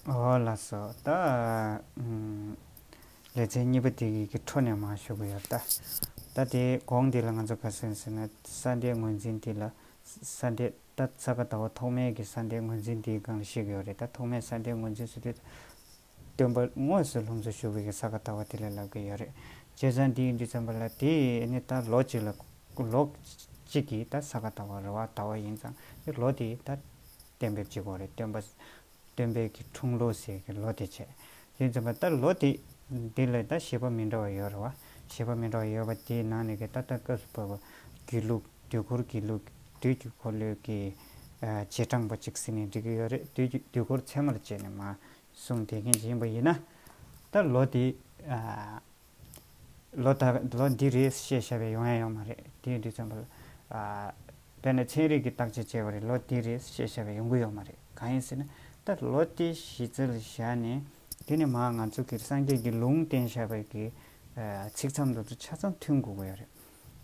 ལ་སོགས་ཏེ། ལེ་ཚན་གཉིས་པ་དེ་གི་གི་འཕྲོ་ནས་མང་ཤོས་གི་ཡོད། ད་དེ་གོང་དེ་ལ་ང་ཚོ་ག་སེམས་ཟེར་ན་ས་འདྲེ་ངོས་འཛིན་དེ་ལ་ས་འདྲེ་ད་ས་ག་ད་བ་ཐོག་མའི་གི་ས་འདྲེ་ངོས་འཛིན་དེའི་སྒང་ལ་ཤེས་གི་ཡོད་རེད་ད་ཐོག་མའི་ས་འདྲེ་ངོས་འཛིན་སུ་དེ་སྟོན་པ་དངོས་སུ་ལྷུམས་སུ་ཞུགས་པའི་གི་ས་ག་ད་བ་དེ་ལ་ལབ་གི་ཡོད་རེད། བྱས་ཙང་དེ་ཡིན་དུས་ཙམ་པ་ལ་དེ་ནི་ད་ལོ་གཅིག་ལ་ལོ་གཅིག་གི་ད་ས་ག་ད་བ་རེད་བ་ད་བ་ཡིན་ཙང་དེ་ལོ་དེ་ད། གཏན་འབེབས་བྱེད་དགོས་རེད་སྟོན་པ། སྟོན་པའི་གི་འཁྲུངས་ལོ་ཟེར་གི་ལོ་དེ་བྱེད། དེ་འཛིན་པ་ད་ལོ་དེ། དེ་ལས་ད་བྱེད་པ་མི་འདྲ་བ་ཡོད་རེད་བ། བྱེད་པ་མི་འདྲ་བ་ཡོད་པ་དེའི་ནང་ནས་གི་ད་ལྟ་སྐབས་སུ་བབས་པ། དགེ་ལུགས་དུས་འཁོར་དགེ་ལུགས་དུས་ཀྱི་འཁོར་ལོའི་གི། བྱེད་གྲངས་པ་གཅིག་ཟིན་ནས་འགྲིག་གི་ཡོད་རེད་དུས་ཀྱི་དུས་འཁོར་ཚད་མར་བྱས་ནས་མ། གསུངས་དེ་མཁན་ཅིག་ཡིན་པ་ཡིན་ན། ད་ལོ་དེ། ལོ་ལྟར་ལོ་འདི་རེད་ཞེས་བྱ་བའི་ཡོང་ཡ་ཡོང་མ་རེད་དེ་འདི་ཙམ་པོ། དཔེར་ན་ཚན་རིག་གི་བརྟག་དཔྱད་བྱས་པ་རེད་ལོ་འདི་རེད་ཞེས་བྱ་བའི་ཡོང་གི་ཡོང་མ་རེད་གང་ཡིན་ཟེར་ན་ད་ལོ་དེ་གཞི་རྩར་བཞག་ནས་དེ་ནི་མ་ང་ཚོ་གི་སངས་རྒྱས་ཀྱི་ལུང་བསྟན་བྱ་བའི་གི་ཚིག་མཚམས་དང་ཆ་མཚམས་མཐུན་དགོས་གི་ཡོད་རེད།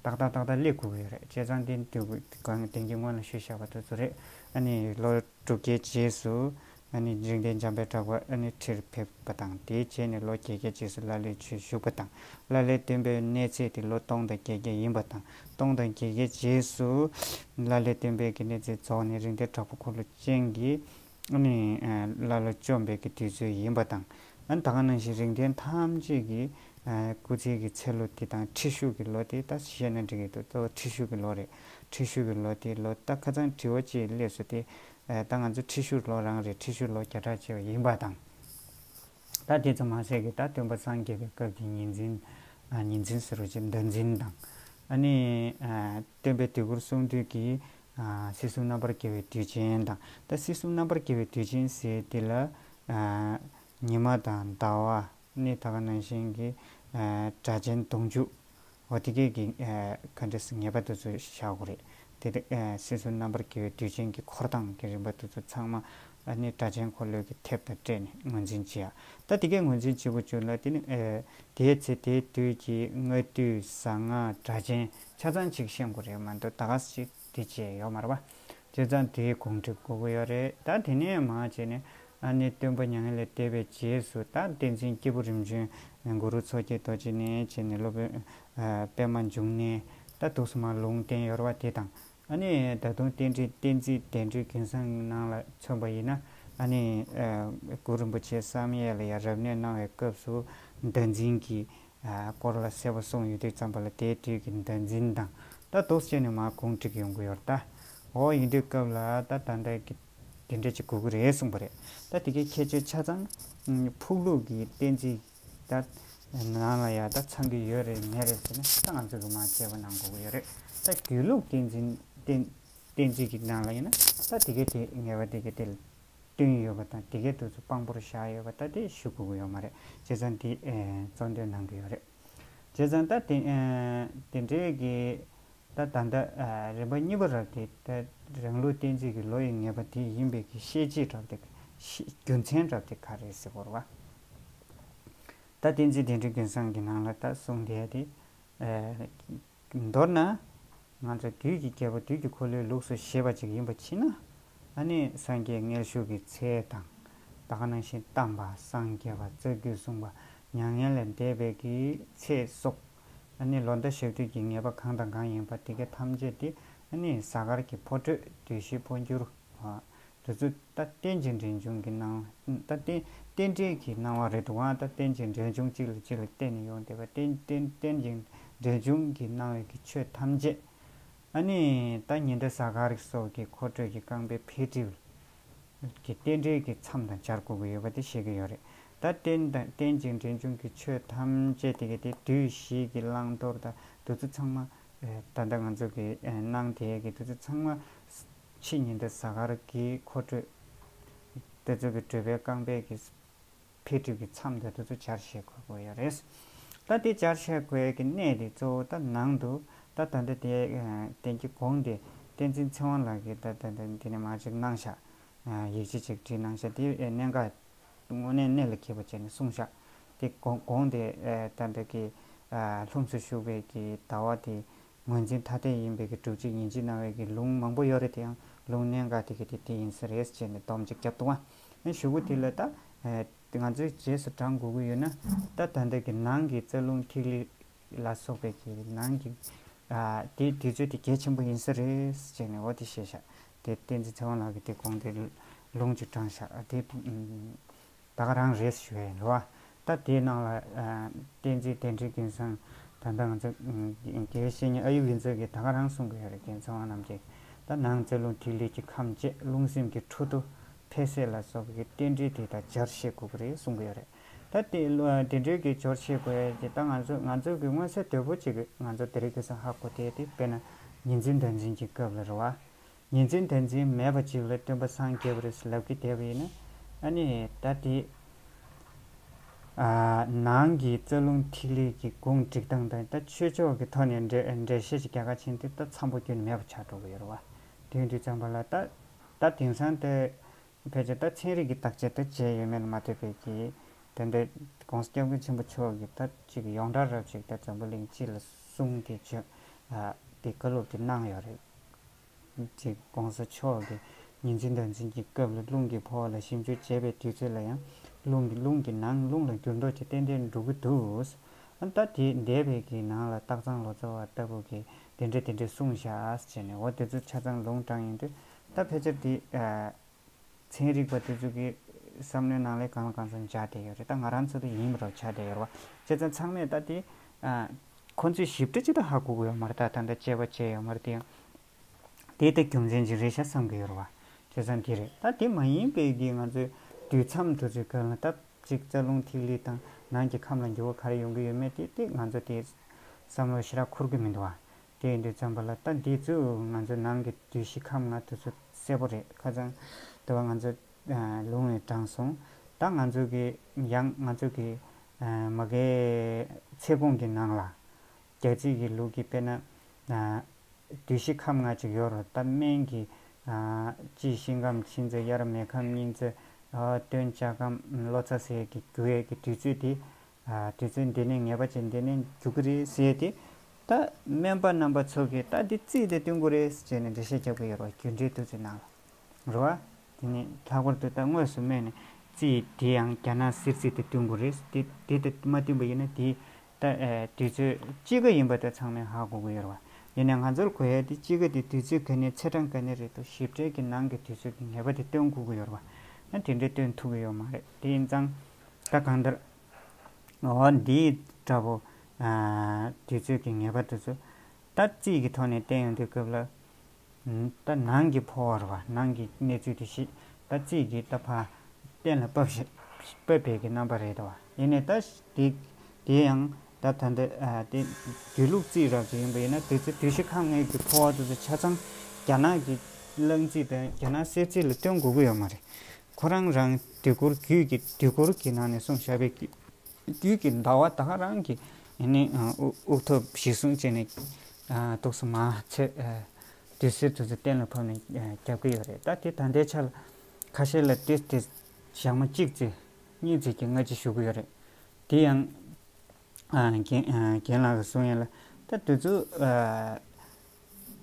ཏག་ཏག་ཏག་ཏག་སླེབས་དགོས་ཀྱི་ཡོད་རེད་ཅེས་ཙང་ཏེན་དུས་གང་གི་དེང་གི་སྔོན་ལ་ཤོད་བཞག་པ་དེ་ཚོ་རེད། ཨ་ནི་ལོ་དྲུག་བརྒྱའི་རྗེས་སུ། ཨ་ནི་འཇིག་རྟེན་འཇམ་པའི་གྲགས་པ་ཨ་ནི་ཁྲིར་ཕེབས་པ་དང་དེའི་རྗེས་ནས་ལོ་བརྒྱད་བརྒྱའི་རྗེས་སུ་ལ་ལས་ཆུ་བཞུགས་པ་དང་ལ་ལས་སྟོན་པའི་གནས་ཚད་དེ་ལོ་སྟོང་དང་བརྒྱད་བརྒྱ་ཡིན་པ་དང་སྟོང་དང་བརྒྱད་བརྒྱའི་རྗེས་སུ། ལ་ལས་སྟོན་པའི་གནས་ཚད་རྫོགས་ནས་རིག་འདེད་གྲགས་པ་འཁོར་ལོ་ཅན་གྱི། ནི་ཀླ་ཀློ་བཅོམ་འབེབས་ཀྱི་དུས་ཚོད་ཡིན་པ་དང། ད་ག་ནང་བཞིན་རིགས་ལྡན་ཐམས་ཅད་ཀྱི་སྐུ་ཚེའི་གི་ཚེ་ལོ་དེ་དང་ཁྲི་ཤུག་གི་ལོ་དེ་ད་བཤད་ན་འགྲིག་གི་འདུག་གཙོ་བོ་ཁྲི་ཤུག་གི་ལོ་རེད། ཁྲི་ཤུག་གི་ལོ་དེ་ལོ་ད་ཁ་ཚང་དྲི་བ་ཅིག་སླེབས་སོ་དེ། ད་ང་ཚོ་ཁྲི་ཤུག་ལོ་རང་རེད་ཁྲི་ཤུག་ལོ་བརྒྱ་ཕྲག་བྱེད་པ་ཡིན་པ་དང། ད་དེ་ཙམ་མ་ཟད་ཀྱི་ད་སྟོན་པ་སངས་རྒྱས་པའི་སྐབས་ཀྱི་ཉིན་འཛིན། ཉིན་འཛིན་ཟེར་བ་ཅིག་ཟླ་འཛིན་དང། ནི་སྟོན་པའི་དུས་འཁོར་གསུང་དུས་ཀྱི་སྲིད་གསུམ་རྣམ་པར་རྒྱལ་བའི་དུས་ཆེན་དང། ད་སྲིད་གསུམ་རྣམ་པར་རྒྱལ་བའི་དུས་ཆེན་ཟེར་དེ་ལ། ཉི་མ་དང་ཟླ་བ། གནས་ད་ག་ནང་བཞིན་གྱི་སྒྲ་གཅན་གདུང་བཅུ། འོ་དེ་སྐད་ཀྱི་ག་འདྲེ་ངེས་པ་དེ་ཚོ་བྱ་དགོས་རེད། དེ་ལྟར་སྲིད་གསུམ་རྣམ་པར་རྒྱལ་བའི་དུས་ཆེན་གྱི་འཁོར་དང་གི་རིམ་པ་དེ་ཚོ་ཚང་མ་ནི་སྒྲ་གཅན་འཁོར་ལོས་ཀྱི་ཐེབས་དང་སྤྲད་ནས་ངོས་འཛིན་བྱེད་ཡ། ད་དེ་སྐད་ངོས་འཛིན་བྱེད་དགོས་བྱུང་ལ་དེ་ནི། དེའི་ཚེ་དེའི་དུས་ཀྱི་སྔ་དུས་གཟའ་ང་སྒྲ་གཅན་ཆ་ཚང་ཅིག་ཤེས་མགོ་རེད་མ་འདུག་ད་ག་ཟེ་ཅིག་དེ་བྱས་ཡོད་མ་རེད་པ། བྱས་ཙང་དེའི་གོང་འགྲིག་དགོས་གི་ཡོད་རེད་ད་དེ་ནས་མ་བྱས་ནས་ཨ་ནེ་སྟོན་པ་མྱ་ངན་ལས་འདས་པའི་རྗེས་སུ་ད་བསྟན་འཛིན་སྐྱེས་བུ་རིམ་བྱོན་མགོ་རུ་མཚོ་སྐྱེས་རྡོ་རྗེ་ནས་བྱས་ནས་སློབ་དཔོན་པདྨ་འབྱུང་གནས་ད་དུག་སུ་མ་ལུང་བསྟན་ཡོད་རེད་བ་དེ་དང་ཨ་ནི་ད་དུང་རྟེན་འབྲེལ་བསྟན་རྩིས་གདན་ཁྲིའི་གིང་སང་ནང་ལ་མཚོན་པ་ཡིན་ན་ཨ་ནི་གུ་རུ་རིན་པོ་ཆེ་བསམ་ཡས་ལ་ཡང་རབ་གནས་གནང་བའི་སྐབས་སུ་བདག་འཛིན་གྱི་སྐོར་ལ་གསལ་པོ་གསུངས་ཡོད་དུས་བརྩམས་པ་ལ་དེའི་དུས་ཀྱི་བདག་འཛིན་དང་ད་དོགས་བཅས་ནས་མ་གུང་བསྒྲིགས་ཡོང་གི་ཡོར་ད་འོ་ཡིན་དུས་སྐབས་ལ་ད་ད་ལྟ་གི་དེ་འདྲ་ཅིག་དགོས་ཀྱི་རེད་གསུངས་པ་རེད་ད་དེ་གའི་ཁྱད་ཆོས་ཆ་ཚང་ཕུག་ལུགས་ཀྱི་བསྟན་རྩིས། ད་ནང་ལ་ཡང་ད་ཚང་གི་ཡོད་རེད་མེད་རེད་ཟེར་ན་ད་ང་ཚོ་གི་མ་བྱས་པ་ནང་དགོས་ཀྱི་ཡོད་རེད་ད་དགེ་ལུགས་བསྟན་འཛིན་བསྟན་འཛིན་གྱི་ནང་ལ་ཡིན་ན་ད་དེ་གའི་དེ་ངེས་པ་དེ་གའི་དེ་བསྟུན་ཡོད་པ་དང་དེ་གའི་དུས་ཚོད་དཔང་པོར་བཞག་ཡོད་པ་ད་དེ་ཞུ་དགོས་ཀྱི་ཡོད་མ་རེད་བྱས་ཙང་དེ་གཙོ་འདོན་གནང་གི་ཡོད་རེད་བྱས་ཙང་ད་དེ་འདྲའི་གི་ད་ལྟ་ད་རེས་པ་གཉིས་པ་རག་སྟེ། རང་ལུགས་གཏན་ཚིགས་ཀྱི་ལོ་ཡི་ངེས་པ་དེ་ཡིན་པས་ཀྱི་ཤེས་བྱེད་གྲབ་སྟེ། རྒྱུ་མཚན་གྲབ་སྟེ་ག་རེ་ཟེར་བར་བ། ད་གཏན་ཚིགས་དེ་འདྲའི་རྒྱུན་བཟང་གི་ནང་ལ་ད་གསུངས་དེ་ཡ་དེ། མདོར་ན། ང་ཚོ་དུས་ཀྱི་རྒྱལ་པོ་དུས་ཀྱི་འཁོར་ལོའི་ལུགས་སུ་ཞེས་པ་ཅིག་ཡིན་པ་མཆིས་ན། ཨ་ནི་སངས་རྒྱས་མངལ་ཞུགས་ཀྱི་ཚེ་དང། བདག་ནང་བཞིན་གཏམས་པ་སངས་རྒྱས་པ་རྩ་རྒྱུད་གསུངས་པ་མྱ་ངན་ལས་འདས་པའི་ཀྱི་ཚེ་སོགས། ནི་ལོ་ཟླ་ཞག་དུས་ཀྱི་ངེས་པ་གང་དང་གང་ཡིན་པ་དེ་ཀ་ཐམས་ཅད་དེ་ནི་གཟའ་སྐར་གྱི་ཕོ་བྲོས་དུས་བཞི་པོ་འགྱུར། དུས་ཚོད་ད་ལྟེན་གྱི་འབྲེལ་འབྱུང་གི་སྣང་བ། ད་ལྟེན་རྟེན་འབྲེལ་གྱི་སྣང་བ་རེད་འདུག་ཨང་ད་ལྟེན་གྱི་འབྲེལ་འབྱུང་གཅིག་ལ་གཅིག་ལ་བརྟེན་ནས་ཡོང་བསྡད་པ་རྟེན་རྟེན་གྱི་འབྲེལ་འབྱུང་གི་སྣང་བའི་གི་ཆོས་ཐམས་ཅད། ནི་ད་ཉི་ཟླ་གཟའ་སྐར་སོགས་ཀྱི་འཁོར་འགྲོས་ཀྱི་རྐང་པའི་འཕེལ་འགྲིབ། གི་རྟེན་འབྲེལ་གྱི་མཚམས་དང་སྦྱར་དགོས་ཀྱི་ཡོད་པ་དེ་ཤེས་ཀྱི་ཡོད་རེད། ད་རྟེན་དང་རྟེན་ཅིང་འབྲེལ་འབྱུང་གི་ཆོས་ཐམས་ཅད་དེ་གའི་དེ་དུས་བཞིའི་གི་བླང་དོར་དང་བདུད་རྩི་ཚང་མ། ད་ལྟ་ང་ཚོ་གི་སྣང་དེ་གའི་གི་བདུད་རྩི་ཚང་མ། ཕྱི་ཉིན་དེ་གཟའ་སྐར་གྱི་འཁོར་འགྲོས། དེ་ཚོ་གི་བགྲོད་པའི་རྐང་པས་གི། འཕེལ་འགྲིབ་ཀྱི་མཚམས་དེ་དུ་གཙོ་བྱར་བཤད་དགོས་དགོས་ཡོད་རེད། ད་དེ་བྱར་བཤད་དགོས་ཀྱི་གནད་དེ་གཙོ་བོ་ད་ནང་དུ་ད་ད་འདི་དེ་དེང་གི་དགོངས་དེ་བསྟན་འཛིན་ཚེ་དབང་ལགས་ཀྱིས་ད་ད་འདི་ནས་མ་གཅིག་གནང་བཞག་ཡིག་ཆ་གཅིག་བྲིས་གནང་བཞག་དེ་གནད་འགག་དངོས་གནས་གནད་ལ་འཁེལ་བ་བྱས་ནས་གསུངས་བཞག་དེ་དགོངས་དེ་ད་འདི་གི་ལྷུམས་སུ་ཞུགས་པའི་གི་ད་བ་དེ་ངོས་འཛིན་ཐ་དད་ཡིན་པའི་གི་སྒྲུབ་བྱེད་ཡིན་ཅེས་གནང་བའི་གི་ལུང་མང་པོ་ཡོད་རེད་དེའང་ལུང་གནད་འགག་དེ་གི་དེ་དེ་ཡིན་ས་རེད་ཅེས་ནས་སྡོམ་གཅིག་བརྒྱབ་འདུག་བ། ཡང་ཞུ་གུ་དེ་ལ་ད། ང་ཚོའི་རྗེས་སུ་འབྲང་དགོས་ཀྱི་ཡོད་ན། ད་ད་འདོད་ཀྱི་ནང་གི་རྩ་རླུང་ཐིག་ལེ་ལ་སོགས་པའི་གི་ནང་གི། དེ་དུས་ཚོད་དེ་གལ་ཆེན་པོ་ཡིན་ས་རེད་ཅེས་ནས་འོ་དེ་ཤེས་བཞག་དེ་བསྟན་འཛིན་ཚེ་དབང་ལགས་ཀྱིས་དེ་དགོངས་དེ་ལུང་བཅུ་དྲངས་བཞག་དེ། ད་ག་རང་རེད་ཞུ་བའི་ལུའ། ད་དེའི་ནང་ལ་བསྟན་འཛིན་དལ་འཕྲིན་སྐལ་བཟང་ད་ལྟ་ང་ཚོ་དགེ་བའི་བཤེས་གཉེན་ཨ་ཡུ་ལི་མཛོད་ཀྱིས་ད་ག་རང་གསུང་གི་ཡོད་རེད་རྒྱལ་མཚན་དབང་རྣམ་རྒྱལ་གྱིས་ད་ནང་རྩེ་རླུང་ཐིག་ལེ་གྱི་ཁམས་བཅས་རླུང་སེམས་ཀྱི་འཕྲོ་འདུ་འཕེལ་གསལ་ལ་སོགས་ཀྱི་རྟེན་འབྲེལ་དེ་དག་སྦྱར་བཤད་དགོས་ཀྱི་རེད་གསུང་གི་ཡོད་རེད། ད་དེ་འབྲེལ་གྱི་སྦྱོར་བྱེད་དགོས་ཡས་ཀྱི་ད་ང་ཚོས་ང་ཚོས་ཀྱི་མངོན་གསལ་དོད་པོ་གཅིག་གིས་ང་ཚོ་དེ་རིགས་ཀྱི་སང་ཧ་གོ་དེ་དེ་དཔེར་ན་ཉིན་འཛིན་ཟླ་འཛིན་གྱི་སྐབས་ལ་རེད་བ། ཉིན་མཚན་དེ་འཛིན་མེད་པ་ཅིག་ལ་སྟོན་པ་སངས་རྒྱས་པ་རེ་ཟ་ལབ་ཀི་དེ་བས་ན་ཨ་ནི་ད་དེ་ནང་གི་རྩ་རླུང་ཐིག་ལེ་གི་གུང་བསྒྲིགས་སྟངས་དང་ད་ཆོས་ཕྱོགས་ཀྱི་ཐོག་ནས་འགྲེལ་བཤད་ཅིག་རྒྱ་གར་ཕྱིན་ཏེ་ད་འཚམས་པོ་རྒྱུ་ནི་མེད་པ་ཆགས་འགྲོ་གི་ཡོད་རེད་བ། དུས་འདི་ཙམ་པ་ལ་ད་ད་དེང་སང་ད་ཕལ་ཆེར་ད་ཚན་རིག་གི་བརྟག་དཔྱད་ད་བྱས་ཡོད་མེད་ལ་མ་ལྟོས་པས་ཀྱི་དེ་འདྲ ྋགོང་ས་སྐྱབས་མགོན་ཆེན་པོ་མཆོག་གིས་ད་ཅིག་ཡོངས་གྲགས་རབ་ཅིག་ད་འཛམ་བུ་གླིང་སྤྱི་ལ་གསུངས་ཏེ་བརྗོད་དེ་བཀའ་སློབ་དེ་གནང་ཡོད་རེད། ཅིག ྋགོང་ས་མཆོག་གིས་ཉིན་བྱེད་ཟླ་མཚན་གྱི་སྐབས་ལ་རླུང་གི་འཕོ་བ་ལ་ཞིབ་འཇུག་བྱེད་པའི་དུས་ཚོད་ལ་ཡང་རླུང་གི་རླུང་གི་ནང་རླུང་ལ་འགྱུར་ལྡོག་ཅིག་ཏན་ཏན་འགྲོ་གི་འདུག་ཨ་མདའ་དེ་འདས་པའི་གི་ནང་ལ་སྟག་ཚང་ལོ་ཙཱ་བ་ལྟ་བུ་གིས་དེ་འདྲ་དེ་འདྲ་གསུངས་བཞག་ཅེས་ནས་འོ་དེ་ཚོ་ཆ་ཚང་ལུང་དྲངས་ཡོང་དུས་ད་ཕལ་ཆེར་དེ་ཚན་རིག་པ་དེ་ཚོ་གི་བསམ་བློའི་ནང་ལས་གང་ལ་གང་འཚམ་འཇགས་བསྡད་ཡོད་རེད་ད་ང་རང་ཚོ་དེ་ཡིན་མི་རོགས་ཆགས་བསྡད་ཡོད་རེད་བ། བྱས་ཙང་ཚང་མས་ད་དེ། ཁོང་ཚོས་ཞིབ་ཕྲ་ཅི་ལྟར་ཧ་གོ་གི་ཡོད་མ་རེད་ད་ད་ལྟ་དཔྱད་པ་བྱས་ཡོད་མ་རེད་དེ་ཡང། དེ་ལྟ་རྒྱུ་མཚན་ཅིག་རེད་ཤག་བསམ་གི་ཡོད་རེད་བ། བྱས་ཙང་དེ་རེད་ད་དེ་མ་ཡིན་པའི་གི་ང་ཚོའི་དུས་མཚམས་དུ་ཚོད་ཁོན་ལ་ད་ཅིག་རྩ་རླུང་ཐིག་ལེ་དང་ནང་གི་ཁམས་ལ་འགྱུར་བ་ག་རེ་ཡོང་གི་ཡོད་མེད་དེ་དེ་ང་ཚོ་དེ་བསམ་བློར་ཞི་རགས་འཁོར་གི་མི་འདུག་བ། དེ་འདི་ཙམ་པ་ལ་ལྟ་འདི་ཚོ་ང་ཚོ་ནང་གི་དུས་བཞི་ཁམས་ལྔ་དུས་ཚོད་གསལ་པོ་རེད་ཁ་ཙང་དེ་བ་ང་ཚོ་ལུང་ནས་དྲངས་སོང་ད་ང་ཚོ་གི་ཡང་ང་ཚོ་གི་མ་གའི་ཚེ་གོང་གི་ནང་ལ་རྒྱ་རྩིས་གི་ལུགས་ཀྱི་དཔེ་ན་དུས་བཞི་ཁམས་ལྔ་ཅིག་ཡོད་རོ་ད་སྨན་གི་དཔྱིད་ཤིང་ཁམས་ཕྱི་ཚེས་དབྱར་མེ་ཁམས་སྙིང་ཚེས་སྟོན་ལྕགས་ཁམས་ལོ་ཙཱ་ཟས་ཀྱི་རྒྱུ་བས་ཀྱི་དུས་ཚོད་དེ་དུས་ཚོད་འདི་ནས་ངེས་པ་ཅན་འདི་ནས་འཇུག་གི་རེད་ཟེར་ཏེ། ད་སྨན་པ་རྣམ་པ་ཚོ་གིས་ད་འདི་རྩིས་དེ་བསྟུན་དགོས་རེད་ཟེར་ནས་འགྲེལ་བཤད་རྒྱབ་ཀྱི་ཡོད་པ་རྒྱུད་འགྲེལ་བསྡུས་ཚོའི་ནང་ལ་རུ་བ། དེ་ནས་ལྷག་པར་དུ་ད་དངོས་སུ་སྨན་ནི་རྩིས་དེ་ཡང་རྒྱ་ནག་སིར་རྩིས་དེ་བསྟུན་དགོས་རེད་ཟེར་ཏེ་དེ་ད་མ་བསྟུན་པ་ཡིན་ན་དེ་ད་དུས་ཚོད་དཔྱིད་ཀ་ཡིན་པ་ད་ཚང་མས་ཧ་གོ་གི་ཡོད་རུ་བ། དེ་ནས་ང་ཚོར་གོ་ཡ་དེ་དཔྱིད་ཀ་དེ་དུས་ཚོད་ག་ནས་ཚེས་གྲངས་ག་ནས་རེད་དོ་ཞིབ་ཕྲའི་གི་ནང་གི་དུས་ཚོད་ཀྱི་ངེས་པ་དེ་བསྟུན་དགོས་ཀྱི་ཡོད་རུ་བ། ཡང་དེ་འདྲའི་བསྟུན་ཐུབ་ཀྱི་ཡོད་མ་རེད་དེ་ཡིན་ཙང། ད་གང་ལྟར་ངོ་བོ་འདི་འདྲ་བོ་དུས་ཚོད་ཀྱི་ངེས་པ་དེ་ཚོ་ད་རྩིས་ཀྱི་ཐོག་ནས་བསྟན་ཡོང་དུས་སྐབས་ལ་ད་ནང་གི་ཕོ་བར་བ་ནང་གི་གནས་ཚུལ་དེ་ཞིག་ད་རྩིས་ཀྱི་ད་ཕ་གཏན་ལ་དཔབ་དཔབ་པའི་གི་རྣམ་པ་རེད་དོ། ཡིན་ནས་ད་དེ་དེ་ཡང་ད་ད་འདི་དེ་དུས་ལུགས་རྩིས་རགས་ཀྱི་ཡིན་པ་ཡིན་ན་དེ་ཚོ་དུས་བཞི་ཁམས་ལྔའི་གི་ཕོ་བ་དེ་ཚོ་ཆ་ཚང་རྒྱ་ནག་གི་གླང་རྩིས་དང་རྒྱ་ནག་གསེར་རྩིས་ལ་བསྟུན་དགོས་ཀྱི་ཡོད་མ་རེད། ཁོ་རང་རང་དུས་འཁོར་རྒྱུད་ཀྱི་དུས་འཁོར་གྱི་ནང་ནས་སོང་ཞབས་པད་རྒྱུད་ཀྱི་ཟླ་བ་དག་རང་གི་དབུགས་ཐོབ་བཞི་བཟུང་བྱས་ནས་གཏུགས་སོ་མ་ཚད་དུས་གསེར་དུ་ཚོད་གཏན་ལ་ཕབ་ནས་རྒྱབ་ཀྱི་ཡོད་རེད་ད་དེ་ད་ལྟའི་ཆ་ལ་ཁ་ཤས་ལ་དེ་དེ་ཞག་མ་གཅིག་རྩི་གཉིས་རྩི་གྱི་སྔ་ཕྱི་ཞུ་གི་ཡོད་རེད་དེ་ཡང་རྒན་ལགས་ཀྱི་གསུང་ཡིན་ལ་ད་དུས་ཚོད་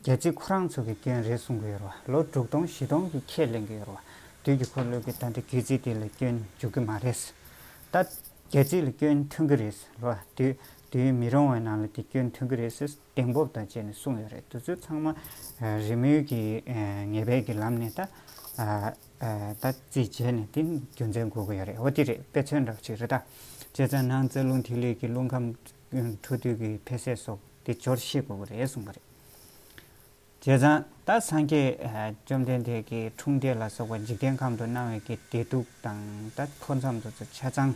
རྒྱལ་སྤྱིས་ཁོ་རང་ཚོ་གི་སྐྱོན་རེད་གསུང་གི་ཡོད་རེད་བ། ལོ་དྲུག་སྟོང་བཞི་སྟོང་གི་ཁྱད་གླེང་གི་ཡོད་རེད་བ། དུས་ཀྱི་འཁོར་ལོས་ཀྱི་ད་ལྟ་རྒྱལ་སྤྱིའི་དེ་ལ་སྐྱོན་འཇུག་གི་མ་རེད། ད། རྒྱལ་སྤྱིའི་ལ་སྐྱོན་ཐོན་གི་རེད། ལོ། དུས། དུས་མི་རོང་བའི་ནང་ལ་དེ་སྐྱོན་ཐོན་གི་རེད། གདེང་སྤོབས་དང་བཅས་ནས་གསུང་ཡོད་རེད་དུས་ཚོད་ཚང་མ། རི་མོའི་གི་ངེས་པའི་གི་ལམ་ནས་ད། ད། རྩིས་བྱས་ནས་དེ་རྒྱུ་མཚན་དགོས་གི་ཡོད་རེད་བ་དེ་རེད་དཔེ་མཚོན་འདྲ་བ་ཅིག་རེད་ད། བྱས་ཙང་ནང་རྩ་རླུང་ཐིག་ལེ་གི་རླུང་ཁམས། འཕྲོ་འདུས་ཀྱི་འཕེལ་ཟད་སོགས་དེ་སྦྱོར་ཤེས་དགོས་ཀྱི་རེད་གསུངས་པ་རེད། བྱས་ཙང་ད་སངས་རྒྱས་བཅོམ་ལྡན་འདས་ཀྱི་འཁྲུངས་འདས་ལ་སོགས་པ་འཇིག་རྟེན་ཁམས་དུ་སྣང་བའི་གི་བདེ་སྡུག་དང་ད་ཕོ་མཚམས་དུ་ཚུ་ཆ་ཚང་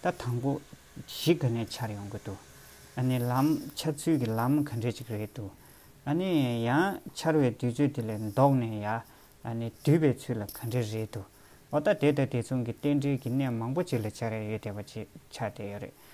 ད་དང་པོ་གཞི་ག་ནས་འཆར་ཡོང་གི་འདུག་ཨ་ནི་ལམ་འཆར་ཚུལ་གྱི་ལམ་ག་འདྲས་ཅིག་རེད་འདུག་ཨ་ནི་ཡང་འཆར་བའི་དུས་ཚོད་དེ་ལས་ལྡོག་ནས་ཡ་ཨ་ནི་སྡུད་པའི་ཚུལ་ལ་ག་འདྲས་རེད་འདུག་འོ་ད་དེ་དང་དེ་མཚུངས་ཀྱི་རྟེན་འབྲེལ་གྱི་གནས་མང་པོ་ཅིག་ལ་འཆར་ཡ་ཡོད་བསྡད་པ་ཅིག་ཆགས་བསྡད་ཡོད་རེད་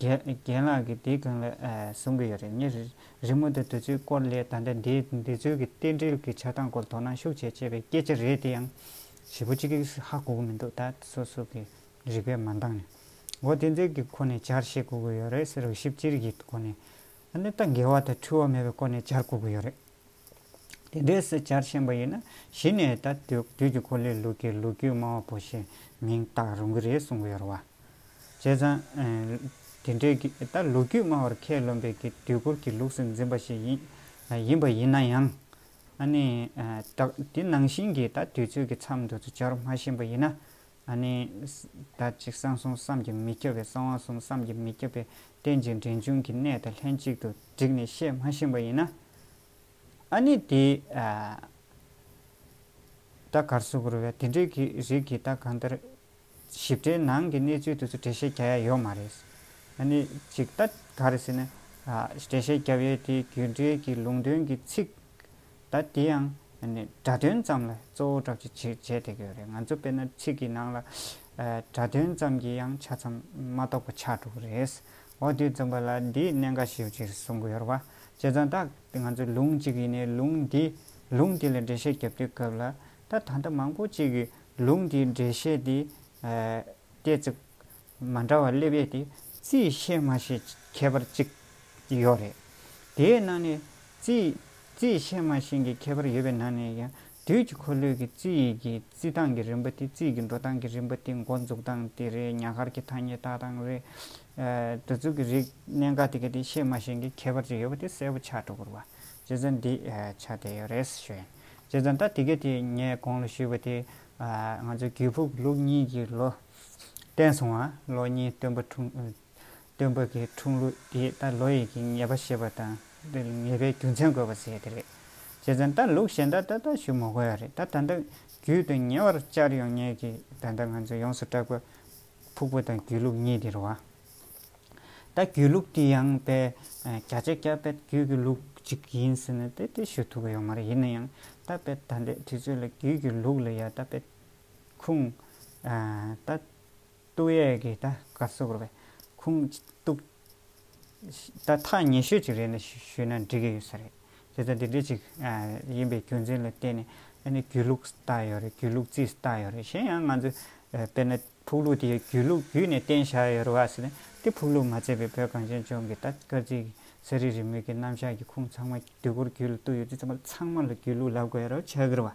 རྒན་ལགས་ཀྱིས་དེ་གང་ལ་བཟུང་གི་ཡོད་རེད་ངས་རི་མོ་དང་དུས་ཚོད་སྐོར་ལས་ད་ལྟ་འདིའི་འདི་ཚོའི་གི་རྟེན་འབྲེལ་གྱི་ཆགས་སྟངས་སྐོར་དོ་སྣང་ཤུགས་ཆེ་ཆེ་བའི་སྐད་ཆ་རེད་དེ་ཡང་བྱེད་པོ་གཅིག་གིས་ཧ་གོ་གི་མི་འདུག་ད་ལྟ་སོ་སོ་གི་རིག་པས་མ་འདང་ནས་འོ་དེ་ཚོའི་གི་ཁོ་ནས་བྱར་བཤད་གོ་གི་ཡོད་རེད་ཟེར་རོ་ཞིབ་གཅིག་གི་སྒོ་ནས་ཨ་ནི་ད་འགལ་བ་དང་འཁྲུལ་བ་མེད་པའི་སྐོར་ནས་བྱར་གོ་གི་ཡོད་རེད། དེ་འདྲའི་སྲིད་བྱར་བཞེངས་པ་ཡིན་ན་གཞི་ནས་ད་དུས་ཀྱི་གོ་ལའི་ལུགས་ཀྱི་ལོ་རྒྱུས་སྨྲ་བ་པོ་ཞེས་མིང་བཏགས་རུང་གི་རེད་གསུང་གི་ཡོད་རེད་བ། བྱས་ཙང། དེ་འདྲའི་གི་ད་ལོ་རྒྱུས་སྨྲ་བར་ཁས་ལོན་པའི་གི་དུས་འཁོར་གྱི་ལུགས་སུ་འཛིན་པ་ཞིག་ཡིན་ཡིན་པ་ཡིན་ན་ཡང། ཨ་ནི། དེ་ནང་བཞིན་གྱི་ད་དུས་ཚོད་ཀྱི་མཚམས་འདུ་ཚོད་བྱར་མ་བཞེངས་པ་ཡིན་ན། ཨ་ནི། བདག་གཅིག་གསང་གསུམ་བསམ་གྱིས་མི་ཁྱབ་པའི་གསང་བ་གསུམ་བསམ་གྱིས་མི་ཁྱབ་པའི་རྟེན་ཅིང་འབྲེལ་འབྱུང་གི་གནས་དང་ལྷན་ཅིག་ཏུ་བསྒྲིགས་ནས་བཤད་མ་ཤེས་པ་ཡིན་ན། ཨ་ནི། དེ་ལྟར་གར་སོགས་རུ་བའི་དེ་འབྲེལ་གྱི་རིགས་ཀྱི་བདག་གང་ལྟར་ཞིབ་ཕྲའི་ནང་གི་གནས་ཚུལ་དེ་ཚོ་འགྲེལ་བཤད་བརྒྱ་ཡ་ཡོད་མ་རེད། ཨ་ནི། ཅིག་ལྟ་ག་རེད་ཟེར་ན། འགྲེལ་བཤད་བརྒྱ་ཡས་དེའི་རྒྱུད་འགྲེལ་གྱི་ལུང་དོན་གྱི་ཚིག། ད་དེ་ཡང་སྒྲ་དོན་ཙམ་ལ་གཙོ་བོ་གྲགས་ཀྱི་བྱེད་བྱེད་དེ་གོ་རེད་ང་ཚོ་དཔེར་ན་ཚིག་གི་ནང་ལ་སྒྲ་དོན་ཙམ་གྱི་ཡང་ཆ་ཙམ་མ་གཏོགས་པ་ཆགས་འགྲོ་གི་རེད། འོ་དུས་རྩོམ་པ་ལ་འདིའི་གནད་འགག་ཞིབ་ཅིག་གསུང་གི་ཡོད་རེད་བ། བྱས་ཙང་ད་ང་ཚོ་ལུང་གཅིག་ཡིན་ནའི་ལུང་འདི་ལུང་དེ་ལ་འགྲེལ་བཤད་རྒྱབ་དུས་སྐབས་ལ་ད་ད་ལྟ་མང་པོ་ཅིག་གིས་ལུང་དེའི་འགྲེལ་བཤད་དེ་སྟེ་ཚིག་མ་འདྲ་བ་སླེབས་ཡས་དེ་རྩིས་བཤད་མ་བྱེད་ཁྱད་པར་ཅིག་ཡོད་རེད། དེའི་ནང་ནས་རྩིས་རྩིས་བཤད་མ་བྱེད་ཀྱི་ཁྱད་པར་ཡོད་པའི་ནང་ནས་ཀྱང་དུས་ཀྱི་འཁོར་ལོས་ཀྱི་རྩིས་ཡིག་གི་རྩིས་སྟངས་ཀྱི་རིམ་པ་དེ་རྩིས་ཀྱི་འགྲོ་སྟངས་ཀྱི་རིམ་པ་དེ་མགོ་འཛུགས་སྟངས་དེ་རེད་ཉག་གར་གྱི་ཐ་སྙད་བཏགས་སྟངས་རེད། འདི་ཚོ་གི་རིག་གནས་འགའ་དེ་ག་དེ་བཤད་མ་བྱེད་ཀྱི་ཁྱད་པར་ཅིག་ཡོད་པ་དེ་གསལ་པོ་ཆགས་འགྲོ་དགོས་པ་རྗེ་བཙུན་འདི་ཆ་དེ་ཡོད་རེད་ཞུས། རྗེ་བཙུན་ད་དེ་ག་དེ་ངས་གོང་ལ་ཞུས་པ་དེ། ང་ཚོའི་གུས་ཕུག་ལུགས་གཉིས་ཀྱི་ལོ། བསྟན་སོང་བ། ལོ་གཉིས་སྟོན་པ་འཁྲུངས། སྟོན་པ་གི་འཁྲུངས་ལུགས་དེ་ད་ལོ་ཡི་གི་ངེས་པ་ཞེས་པ་དང་དེ་ལ་ངེས་པའི་རྒྱུ་མཚན་དགོས་པ་ཟེར་དེ་རེད། བྱས་ཙང་ད་ལུགས་གཞན་དག་ད་ལྟ་ཞུ་མ་དགོས་ཡ་རེད་ད་ད་ལྟ་རྒྱུད་དུ་ཉེ་བར་བཅར་ཡོང་ངེས་གི་ད་ལྟ་ང་ཚོ་ཡོངས་སུ་སྐྲག་པ། ཕུག་པོ་དང་རྒྱུད་ལུགས་གཉིས་དེ་རུ་བ། ད་རྒྱུད་ལུགས་དེ་ཡང་དཔལ་རྒྱ་ཆེ་སྐྱབས་དཔལ་རྒྱུད་ཀྱི་ལུགས་ཅིག་ཡིན་ཟེར་ན་དེ་དེ་ཞུ་ཐུབ་ཀྱི་ཡོད་མ་རེད་ཡིན་ན་ཡང་ད་དཔལ་ད་ལྟའི་དུས་ཚོད་ལ་རྒྱུད་ཀྱི་ལུགས་ལ་ཡ་ད་དཔལ། ཁུངས། ད། སྟུག་ཡས་ཀྱི་ད་ག་ཟུག་རོ་བས། ཁུངས། སྟུག། ད་ཐག་ཉེ་ཤོས་ཅིག་རེད་ན་ཞུས་ན་འགྲིག་གི་ཡོད་ས་རེད། དེ་ལྟ་དེ་འདྲ་ཅིག་ཡིན་པའི་རྒྱུ་མཚན་ལ་བརྟེན་ནས་ཨ་ནི་རྒྱུད་ལུགས་སུ་བཏགས་ཡོད་རེད་རྒྱུད་ལུགས་རྩིས་སུ་བཏགས་ཡོད་རེད་གཞན་ཡང་ང་ཚོས་དཔེར་ན་ཕུག་ལུགས་དེ་རྒྱུད་ལུགས་བརྒྱུད་ནས་བསྟན་བཞག་ཡོད་རེད་བ་ཟེར་ན་དེ་ཕུག་ལུགས་མ་བརྩད་པའི་བོད་གངས་ཅན་ལྗོངས་ཀྱི་ད་སྐར་རྩིས་ཀྱི་ས་རིས་རི་མོས་ཀྱི་རྣམ་གཞག་གི་ཁུངས་ཚང་མ་དུས་འཁོར་རྒྱུད་ལ་བཏུགས་ཡོད་དུས་ཚང་མ་ཚང་མ་ལ་རྒྱུད་ལུགས་ལབ་དགོས་ཡོད་རེད་བ་ཆགས་ཀྱི་རེད་བ།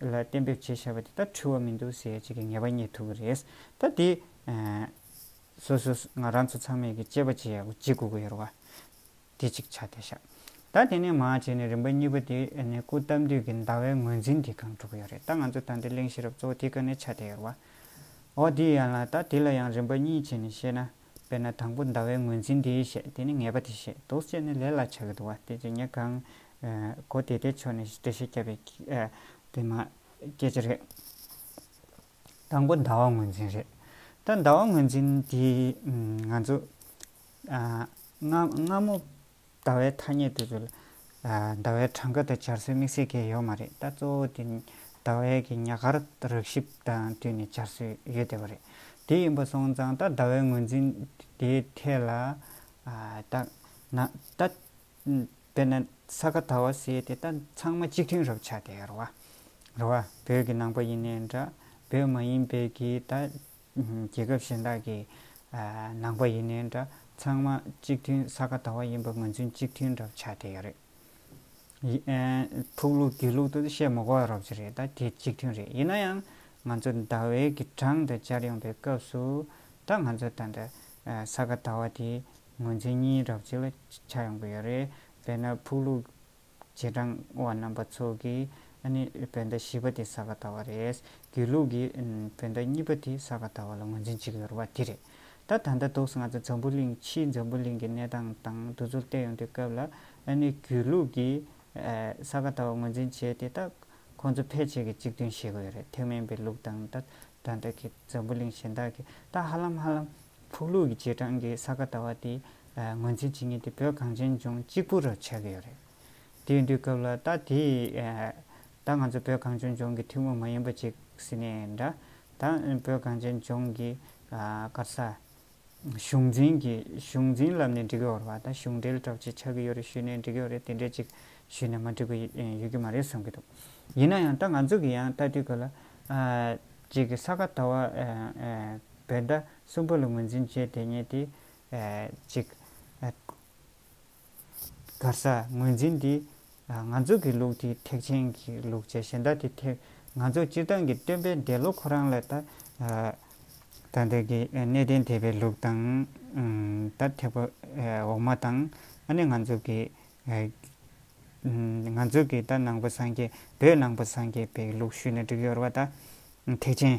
ལ་གཏན་འབེབས་བྱས་བྱས་པ་དེ་དག་འཁྲུལ་བ་མི་འདུག་ཟེར་བྱེད་ཀྱི་ངེས་པ་རྙེད་ཐུབ་པ་རེད། ད་དེ། སོ་སོ་ང་རང་ཚོ་ཚང་མས་ཀྱི་དཔྱད་པ་བྱེད་ཡག་གོ་ཅི་གོ་གི་ཡོད་རེད། དེ་གཅིག་ཆ་དེ་བཞག། ད་དེ་ནས་མར་བྱས་ནས་རིམ་པ་གཉིས་པ་དེ་ནས་སྐུ་བལྟམས་དུས་ཀྱི་ཟླ་བའི་ངོས་འཛིན་དེ་གང་འགྲོ་གི་ཡོད་རེད་ད་ང་ཚོ་ད་འདིར་གླེང་ཤེས་རབ་གཙོ་བོ་དེ་ག་ནས་ཆ་དེ་ཡོད་རེད། འོ་དེ་ཡིན་ཡང་ལ་ད་དེ་ལ་ཡང་རིམ་པ་གཉིས་བྱས་ནས་བཤད་ན། དཔེར་ན་དང་པོ་ཟླ་བའི་ངོས་འཛིན་དེ་བཤད་དེ་ནི་ངེས་པ་དེ་བཤད་དོགས་བཅས་ནི་ལས་ལ་བྱ་གི་འདུག་བ་དེ་ཅི་ཉེས་གང། གོ་དེ་དེ་ཕྱོགས་ནས་འགྲེལ་བཤད་བསྐྱལ་པའི། དེ་མ། སྐད་ཆ་རེད། དང་པོ་ཟླ་བ་ངོས་འཛིན་རེད། ད་ཟླ་བ་ངོས་འཛིན་དེ། ང་ཚོ། སྔ་མོ། ཟླ་བའི་ཐ་སྙད་དུ། ཟླ་བའི་གྲངས་ཀ་དང་འབྱར་སོའི་དམིགས་བསལ་གྱི་ཡོད་མ་རེད་ད། གཙོ་བོ་དེ་ཟླ་བའི་གྱི་ཉག་གར་རགས་ཞིབ་དང་བསྟུན་ནས་འབྱར་སོའི་ཡོད་བསྡད་པ་རེད། དེ་ཡིན་པ་སོང་ཙང་ད་ཟླ་བའི་ངོས་འཛིན་དེའི་ཐད་ལ། ད་ན་ད། དཔེར་ན་ས་ག་ད་བ་སེ་དེ་ད་ཚང་མ་གཅིག་མཐུན་རབ་ཆགས་ཏེ་ར་བ། ར་བ། བོད་ཀྱི་ནང་པ་ཡིན་ནའི་འདྲ་བོད་མ་ཡིན་པའི་གྱི་ད། རྒྱལ་ཁབ་གཞན་དག་གི་ནང་པ་ཡིན་ནའི་འདྲ་ཚང་མ་གཅིག་མཐུན་ས་ག་ཟླ་བ་ཡིན་པ་ང་ཚོའི་གཅིག་མཐུན་འདྲ་བ་ཆགས་བསྡད་ཡོད་རེད། ཕུག་ལུགས་དགེ་ལུགས་དུ་བཤད་མི་དགོས་རོགས་ཅི་རེད་ད་དེ་གཅིག་མཐུན་རེད་ཡིན་ན་ཡང་ང་ཚོ་ཟླ་བའི་གི་གྲངས་དུ་སྦྱར་ཡོང་པའི་སྐབས་སུ་ད་ང་ཚོ་ད་འདི་ས་ག་ཟླ་བ་དེ་ངོས་འཛིན་གཉིས་རོགས་ཅི་ལ་ཆགས་ཡོང་གི་ཡོད་རེད་དཔེར་ན་ཕུག་ལུགས། རྗེས་འབྲང་བ་རྣམ་པ་ཚོ་གིས་ནི་བོད་ཟླ་བཞི་པ་དེ་ས་ག་ཟླ་བ་རེད། རྒྱུད་ལུགས་ཀྱིས་བོད་ཟླ་གཉིས་པ་དེ་ས་ག་ཟླ་བ་ལ་ངོས་འཛིན་བྱེད་ཀྱི་ཡོད་པ་དེ་རེད། ད་ད་ལྟ་དུག་ང་ཚོ་འཛམ་བུ་གླིང་ཕྱིའི་འཛམ་བུ་གླིང་གི་གནས་སྟངས་དང་འདུ་ཚོར་བལྟས་ཡོང་དུས་སྐབས་ལ་ནི་རྒྱུད་ལུགས་ཀྱིས་ས་ག་ཟླ་བ་ངོས་འཛིན་བྱས་ཏེ་ད་ཁོང་ཚོ་ཕལ་ཆེར་གྱི་གཅིག་མཐུན་ཤེས་དགོས་ཡོད་རེད་ཐེག་དམན་པའི་ལུགས་དང་ད་ད་ལྟ་གི་འཛམ་བུ་གླིང་གཞན་དག་གིས་ད་ཧ་ལམ་ཧ་ལམ། ཕུག་ལུག་གི་རྗེས་འབྲང་གི་ས་ག་ཟླ་བ་དེ་ངོས་འཛིན་བྱེད་ངེས་ཏེ་བོད་གངས་ཅན་ལྗོངས་གཅིག་པུ་རུ་ཆགས་ཀྱི་ཡོད་རེད། དེའི་དུས་སྐབས་ལ་ད་དེ་ད་ང་ཚོ་བོད་གངས་ཅན་ལྗོངས་ཀྱི་ཐུན་མོང་མ་ཡིན་པ་ཅིག་ཟེར་ནས་འདྲ་ད་བོད་གངས་ཅན་ལྗོངས་ཀྱི་སྐར་ས་གཞུང་འཛིན་གྱི་གཞུང་འཛིན་ལབ་ནས་འབྲི་གི་ཡོད་རེད་པ་ད་གཞུང་འབྲེལ་གྲགས་ཅིག་ཆགས་ཀྱི་ཡོད་རེད་ཞུས་ནས་འབྲི་གི་ཡོད་རེད་དེ་འདྲས་ཅིག་ཞུས་ནས་མ་འབྲི་གི་ཡོད་ཀྱི་མ་རེད་གསུང་གི་འདུག་ཡིན་ན་ཡང་ད་ང་ཚོ་གི་ཡང་ད་དུས་སྐབས་ལ་ཅིག་ས་ག་ཟླ་བ་བས་མཐའ་གསུམ་པོ་ལ་ངོས་འཛིན་བྱེད་དེ་ཉིད་དེ། གཅིག། གར་ས་ངོས་འཛིན་འདི། ང་ཚོ་གི་ལུགས་དེ་ཐེག་ཆེན་གྱི་ལུགས་བྱས་གཞན་དག་དེ་ཐེག། ང་ཚོ་སྤྱིར་བཏང་གི་སྟོན་པའི་འདས་ལོ་ཁོ་རང་ལས་ད། ད་ལྟའི་གི་གནས་བརྟན་དེ་བའི་ལུགས་དང། ད་ཐེག་པ་འོག་མ་དང། ཨ་ནི་ང་ཚོ་གི། ང་ཚོ་གི་ད་ནང་པ་སངས་རྒྱས་བོད་ནང་པ་སངས་རྒྱས་པའི་ལུགས་ཞུས་ནས་བསྒྲིགས་ཡོར་བ་ད། ཐེག་ཆེན།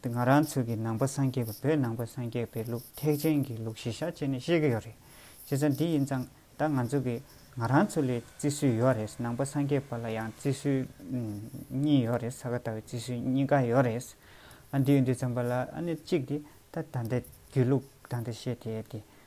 འདི་ང་རང་ཚོའི་གི་ནང་པ་སངས་རྒྱས་པའི་བོད་ནང་པ་སངས་རྒྱས་པའི་ལུགས་ཐེག་ཆེན་གྱི་ལུགས་གཞི་ཤ་ཅེ་ནས་ཤེས་གི་ཡོད་རེད། བྱས་ཙང་འདི་ཡིན་ཙང་ད་ང་ཚོ་གི་ང་རང་ཚོ་ལས་བརྩི་སྲོལ་ཡོད་རེད་ནང་པ་སངས་རྒྱས་པ་ལ་ཡང་བརྩི་སྲོལ་གཉིས་ཡོད་རེད་ས་ག་ཟླ་བའི་བརྩི་སྲོལ་གཉིས་ཀ་ཡོད་རེད། ཨ་འདི་ཡོད་འདི་ཙམ་པ་ལ་ཨ་ནི་གཅིག་དེ་ད་ད་ལྟའི་རྒྱུད་ལུགས་ད་ལྟ་བཤད་དེ་དེ་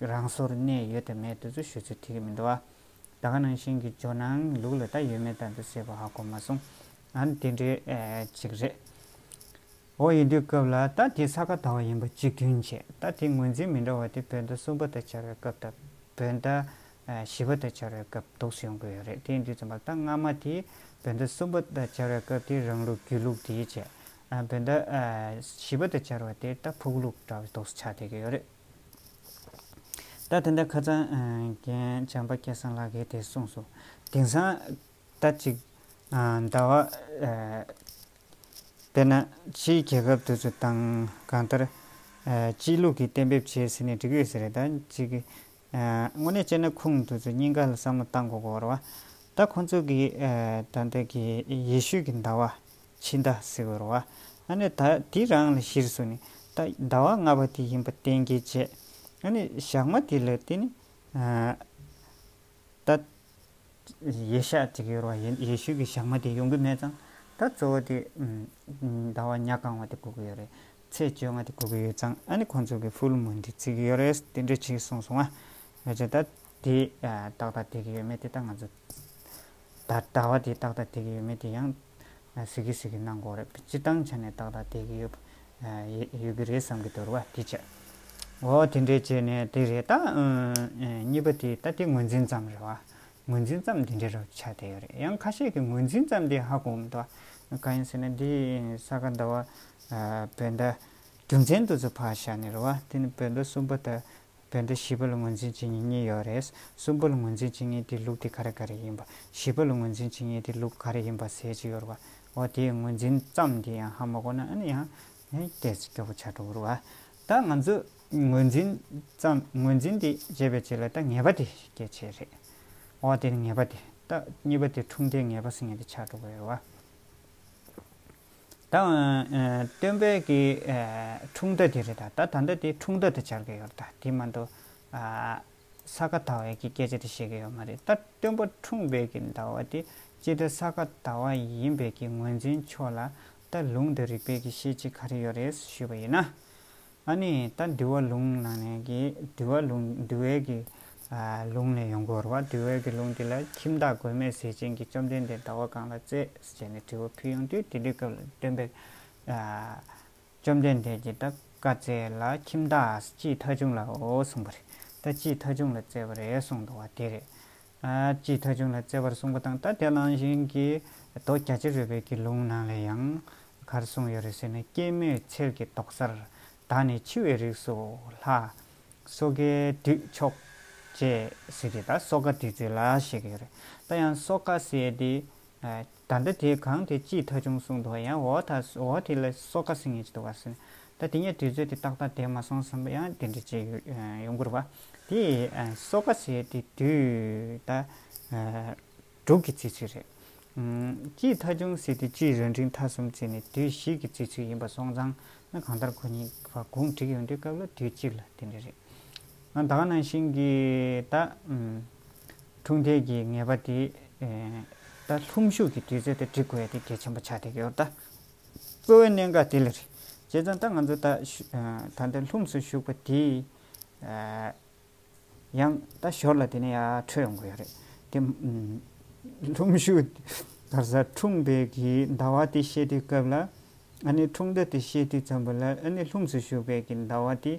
རང་སོར་གནས་ཡོད་དུ་མེད་དུ་ཚུལ་ཤོད་ཚུལ་ཐིག་གི་མི་འདུག་བདག་ག་ནང་བཞིན་གྱི་ཇོ་ནང་ལུགས་ལ་ད་ཡོད་མེད་ལྟ་འདི་སེ་བ་ཧ་གོ་མ་སོང་ང་དེ་འདྲའི་ཅིག་རེད་འོ་ཡིན་དུས་སྐབས་ལ་ད་དེ་ས་ག་ད་བ་ཡིན་པ་གཅིག་མཐུན་བྱེད་ད་དེ་ངོས་འཛིན་མི་འདྲ་བ་དེ་བོད་ཟླ་གསུམ་པ་ད་འཆར་བའི་སྐབས་ད་བོད་ཟླ་བཞི་པ་ད་འཆར་བའི་སྐབས་དུགས་སུ་ཡོང་དགོས་ཡོད་རེད་དེ་འདུས་ཙམ་པ་ད་སྔ་མ་དེ་བོད་ཟླ་གསུམ་པ་ད་འཆར་བའི་སྐབས་དེ་རང་ལུགས་རྒྱུད་ལུགས་དེའི་བྱེད་བོད་ཟླ་བཞི་པ་ད་འཆར་བ་དེ་ད་ཕུགས་ལུགས་འདྲ་བ་དུགས་སུ་ཆགས་བསྡད་ཀྱི་ཡོད་རེད། ད་དེ་འདྲ་ཁ་ཚང་རྒན་བྱམས་པ་སྐལ་བཟང་ལགས་ཀྱིས་དེ་གསུངས་སོ། དེང་སང་ད་ཅིག་ཟླ་བ། དཔེར་ན་ཕྱིའི་རྒྱལ་ཁབ་དེ་ཚོ་དང་གང་ལྟར། སྤྱིའི་ལུགས་ཀྱིས་གཏན་འབེབས་བྱས་ཟིན་ནས་འགྲིག་ཡོད་ཟེར་རེད་ད་ཅིག། དངོས་གནས་བྱས་ན་ཁུངས་དེ་ཚོ་སྙིང་ག་ལ་བསམ་བློ་བཏང་དགོས་གོ་རེད་བ། ད་ཁོང་ཚོ་གིས་ད་ལྟ་གི་ཡེ་ཤུ་གི་ཟླ་བ། འཆི་བདག་སེ་བོར་བ། ཨ་ནི་ད་དེ་རང་ལ་གཞིར་སུ་ནི། ད་ཟླ་བ་ལྔ་པ་དེ་ཡིན་པ་གཏན་གྱི་བརྗེད། ཨ་ནི་ཞག་མ་དེ་ལ་དེ་ནི། ད། ཡེ་ཤ་ཅིག་ཡོར་བ་ཡིན་ཡེ་ཤུ་གི་ཞག་མ་དེ་ཡོང་གི་མེད་ཙང། ད་གཙོ་བོ་དེ། ཟླ་བ་ཉག་གང་བ་དེ་སྒུག་གི་ཡོད་རེད། ཚེས་བཅོ་ལྔ་དེ་སྒུག་གི་ཡོད་ཙང་ཨ་ནི་ཁོང་ཚོ་གི་ཕུ་ལུ་མུ་འདི་བརྩི་གི་ཡོད་རེད་དེ་འདྲ་ཆིག་གསུངས་སོང་ང། ཨེ་ཅེ་ད། དེ་ཏག་ཏག་དེ་གི་ཡོད་མེད་དེ་ད་ང་ཚོ་ད་ལྟ་བ་དེ་ཏག་ཏག་དེ་གི་ཡོད་མེད་དེ་ཡང་གཟིགས་གི་གཟིགས་གི་གནང་དགོས་རེད་སྤྱི་བཏང་ཆ་ནས་ཏག་ཏག་དེ་གི་ཡོད་ཡོད་གི་རེད་བསམ་གི་འདུག་རེད་བ་དེ་བྱས། འོ་དེ་འདྲས་བྱས་ནས་དེ་རེད་ད། གཉིས་པ་དེ་ད་དེ་ངོས་འཛིན་ཙམ་རེད་བ། ངོས་འཛིན་ཙམ་དེ་འདྲས་རོ་ཆ་དེ་ཡོད་རེད་ཡང་ཁ་ཤས་ཀྱི་ངོས་འཛིན་ཙམ་དེ་ཧ་གོ་མི་འདུག་བ། གང་ཡིན་ཟེར་ན་དེ་ས་ག་ཟླ་བ་བོད་ཟླ་རྒྱུ་མཚན་དུ་ཚོད་ཕ་ཤ་ནི་རེད་བ་དེ་ནི་བོད་ཟླ་གསུམ་པ་ད་བོད་འདི་བཞི་པ་ལ་ངོས་འཛིན་བྱེད་ངེས་གཉིས་ཡོད་རེད། གསུམ་པ་ལ་ངོས་འཛིན་བྱེད་ངེས་དེའི་ལུགས་དེ་ག་རེ་ག་རེ་ཡིན་པ། བཞི་པ་ལ་ངོས་འཛིན་བྱེད་ངེས་དེའི་ལུགས་ག་རེ་ཡིན་པ་ཟེར་གྱི་ཡོད་རེད། འོ་དེའི་ངོས་འཛིན་ཙམ་དེ་ཡང་ཧ་མ་གོ་ན་ཨ་ནི་ཡང། སྐད་ཅིག་སྐྱོ་པོ་ཆགས་འགྲོ་གི་རེད་བ། ད་ང་ཚོས་ངོས་འཛིན་ཙམ་ངོས་འཛིན་དེ་བྱེད་པའི་ཆེད་ལ་ད་ངེས་པ་དེ་སྐྱེད་བྱེད་རེད། འོ་དེ་ནི་ངེས་པ་དེ། ད་གཉིས་པ་དེ་འཁྲུངས་འདས་ངེས་པ་ཟེར་ངེས་དེ་ཆགས་འགྲོ་གི་ཡོད་རེད་བ། ད་ཨོ་སྟོན་པས་ཀྱི་འཁྲུངས་ཟླ་དེ་རེད་ད་ད་ད་ལྟ་དེ་འཁྲུངས་ཟླ་དུ་འཆར་གྱི་ཡོད་རེད་ད་དེ་མ་འདུག་ས་ག་ཟླ་བའི་ཀྱི་སྐད་ཆ་དེ་བཤད་ཀྱི་ཡོད་མ་རེད་ད་སྟོན་པ་འཁྲུངས་པའི་ཀྱི་ཟླ་བ་དེ་སྤྱི་ཟླ་ས་ག་ཟླ་བ་ཡིན་པའི་ཀྱི་ངོས་འཛིན་ཆོག་ལ་ད་ལུང་དང་རིག་པའི་ཀྱི་ཤེས་བྱེད་ག་རེ་ཡོད་རེད་ཞུས་པ་ཡིན་ན། ཨ་ནི་ད་འདུལ་བ་ལུང་གནང་ནས་ཀྱི་འདུལ་བ་ལུང་འདུལ་བའི་ཀྱི་ལུང་ནས་ཡོང་གོ་རུ་བ་འདུལ་བའི་ཀྱི་ལུང་དེ་ལ་ཁྱིམ་བདག་མགོན་མེད་ཟས་སྦྱིན་གྱིས་བཅོམ་ལྡན་འདས་ཟླ་བ་གང་ལ་བཙས་ཞེས་ནས་དྲི་བ་ཕུལ་ཡང་དུས་དེ་འདུལ་སྐབས་ལ་སྟོན་པས། བཅོམ་ལྡན་འདས་ཀྱིས་ད་བཀའ་སྩལ་ལ་ཁྱིམ་བདག་ཅིའི་ཐ་ཆུང་ལའོ་གསུངས་པ་རེད་ད་ཅིའི་ཐ་ཆུང་ལ་བཙས་པ་རེད་གསུངས་འདུག་བ་དེ་རེད། ཅེས་ཐ་ཆུང་ལ་བརྩེ་བར་གསུངས་པ་དང་ད་དེ་ནང་བཞིན་གྱི་དོ་རྒྱ་ཕྱི་རོལ་པའི་དགེ་ལུང་ནང་ལས་ཡང་གར་གསུངས་ཡོད་རེད་ཟེར་ནས་སྐྱེད་མོས་ཚལ་གྱི་ཏོག་གསར་དག་ནས་འཆི་བའི་རིགས་སུ་ལྷ། སོ་གའི་དུས་མཆོག། ཅེས་ཟེར་གྱི་ད་སོ་ག་དུས་ཚོད་ལ་ཞེས་ཀྱི་ཡོད་རེད་ད་ཡང་སོ་ག་ཟེར་དེ། ད་ལྟ་དེ་གང་དེ་ཅིས་ཐག་ཆུང་གསུངས་འདུག་ཡང་འོ་ད་འོ་དེ་ལ་སོ་ཀ་ཟེར་ངེས་ཀྱི་འདུག་བ་སེ། ད་དེ་ཉིད་དུས་ཚོད་དེ་ཏག་ཏག་དེད་མ་སོང་བསམ་པ་ཡང་དེ་འདྲ་བྱས་ཡོང་གི་རེད་བ། དེ་སོ་ཀ་ཟེར་དེ་དུས་ད་དྲུག་གི་བརྩི་ཚུལ་རེད། ཅིས་ཐག་ཆུང་ཟེར་དེ་ཅིས་རང་འཕྲིན་ཐ་གསུམ་བརྩི་ནས་དུས་བཞི་གི་བརྩི་ཚུལ་ཡིན་པ་སོང་ཙང་ན་གང་ལྟར་ཁོ་གཉིས་བར་གུང་བསྒྲིགས་ཡོང་དུས་སྐབས་ལ་དུས་གཅིག་ལ་དེ་འདྲ་རེད། ང་ད་ག་ནང་བཞིན་གྱི་ད། འཁྲུངས་འདས་ཀྱི་ངེས་པ་དེ། ད་ལྷུམས་ཞུགས་ཀྱི་དུས་ཚོད་དེ་འབྲི་དགོས་ཡ་དེ་གལ་ཆེན་པོ་ཆགས་བསྡད་ཡོད་ད། གཙོ་བོའི་གནད་འགག་དེ་ལ་རེད། བྱས་ཙང་ད་ང་ཚོ་ད། ད་ལྟ་ལྷུམས་སུ་ཞུགས་པ་དེ། ཡང་ད་ཞོར་ལ་དེ་ནས་ཡར་འཕྲོས་ཡོང་དགོས་ཡ་རེད། དེ། ལྷུམས་ཞུགས། ག་ས་འཁྲུངས་འདས་ཀྱི་ཟླ་བ་དེ་བཤད་དུས་སྐབས་ལ། ཨ་ནེ་འཁྲུངས་ཟླ་དེ་བཤད་དུས་ཙམ་པོ་ལ་ཨ་ནེ་ལྷུམས་སུ་ཞུགས་པའི་གི་ཟླ་བ་དེ།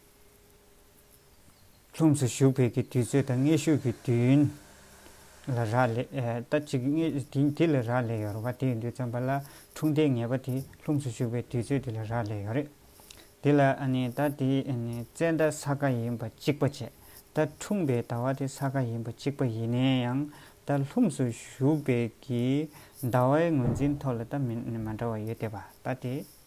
ལྷུམས་སུ་ཞུགས་བོད་ཀྱི་དུས་ཚོད་དང་སྔས་ཤུགས་ཀྱི་དུས་ཡུན་ལ་རག་ལས་ད་ཅིག་སྔས་དེ་ལ་རག་ལས་ཡོད་རེད་བ་དེ་ཡིན་དུས་བརྩམས་པ་ལ་འཁྲུངས་འདས་ངེས་པ་དེ་ལྷུམས་སུ་ཞུགས་པའི་དུས་ཚོད་དེ་ལ་རག་ལས་ཡོད་རེད་དེ་ལ་ད་དེ་བཙན་ད་ས་ག་ཡིན་པ་གཅིག་པ་བྱས་ད་འཁྲུངས་པའི་ད་བ་དེ་ས་ག་ཡིན་པ་གཅིག་པ་ཡིན་ནའི་ཡང་ད་ལྷུམས་སུ་ཞུགས་བོད་ཀྱི་ད་བའི་ངོས་འཛིན་ཐོག་ལ་ད་མི་མ་འདྲ་བ་ཡོད་དེ་བ་ད་དེ།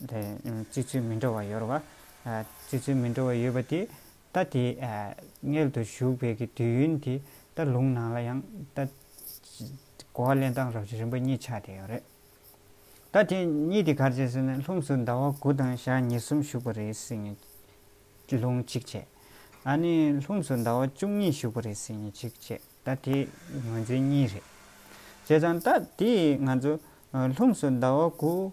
བརྩི་ཚུལ་མི་འདྲ་བ་ཡོད། བརྩི་ཚུལ་མི་འདྲ་བ་ཡོད་པ་དེས་ད་དེ་མངལ་དུ་ཞུགས་པའི་གི་དུས་ཡུན་དེ་ད་ལུང་ནང་ལ་ཡང་ད་གོ་བ་ལེན་སྟངས་རབ་བྱེད་རིམ་པ་གཉིས་ཆགས་དེ་ཡོད་རེད། ད་དེ་གཉིས་དེ་གར་བྱས་ཟེར་ན་ལྷུམས་སུ་ཟླ་བ་དགུ་དང་ཞག་ཉེར་གསུམ་ཞུགས་པ་རེད་ཟེར་ནས་ལུང་གཅིག་བྱས། ཨ་ནི་ལྷུམས་སུ་ཟླ་བ་བཅུ་གཉིས་ཞུགས་པ་རེད་ཟེར་ནས་གཅིག་བྱས་ད་དེ་ངོས་འཛིན་གཉིས་རེད། བྱས་ཙང་ད་དེ་ང་ཚོ་ལྷུམས་སུ་ཟླ་བ་དགུ།